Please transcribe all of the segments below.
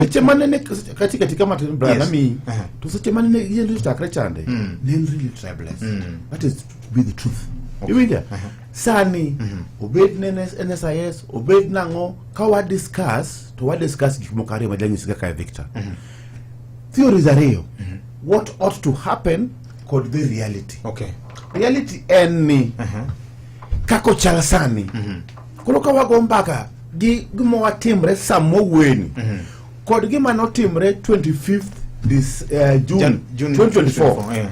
sechemane nekati katika mabrami to sechemane neiye ndiri chakre chande mm. then really tribeless mm. that is to be the truth okay. iwinja uh -huh. sani mm -hmm. obed ne nsis obed nang'o ka wadiscuss to wadiscuss gik moko ariyo majanyiso kaka e victor mm -hmm. theories ariyo mm -hmm. what ought to happen kod the reality okay. reality en ni uh -huh. kaka ochal sani mhm. koro ka wago mbaka gi gima watimre sama weni mhm. kod gima notimre 25 this uh, June, June 2024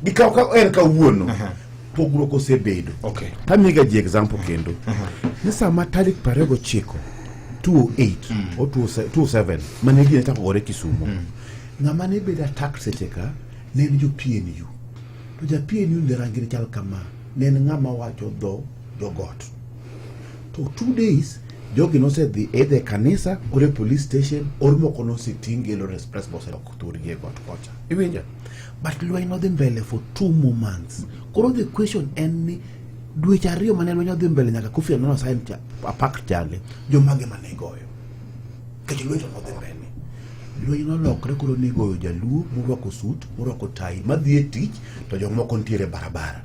gikaw ka en kawuono uh-huh. pogruok osebedo okay. tamiga ji example kendo uh-huh. ni sama tarik prariyo gochiko 28 mm. o 27 mane gine chako gore kisumo mm. ng'ama ne bedo attacked seche ka ne en jo PNU To japien yun jarangire chal kama ne en ng'ama wacho dho jogot. To two days jogi nosedhi either kanisa or e police station or moko noseting gelo express bus ok thurgi e got kocha. Iwinja? But lweny nodhi mbele for two more months. Koro the question en ni dweche ariyo mane lweny odhi mbele nyaka Kofi Annan osign apart chande jomage mane igoyo. Nikech lweny nodhi mbele. Lweny nolokre koro nigoyo jaluo morwako sut, morwako tai, madhi e tich to jomoko nitiere barabara.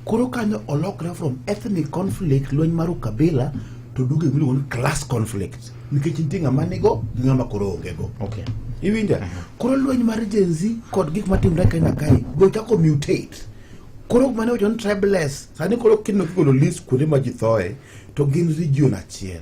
Koro kanyo olokre from ethnic conflict, lweny mar ukabila to duogo e miluongo ni class conflict nikech nitie ng'ama nigo gi ng'ama koro onge go. Okay. Iwinja? Koro lweny mar Gen Z kod gik matimre kae na kae be ochako mutate. Koro mane wacho ni tribeless sani koro kineno kigolo list kuonde ma ji thoe to gin region achiel.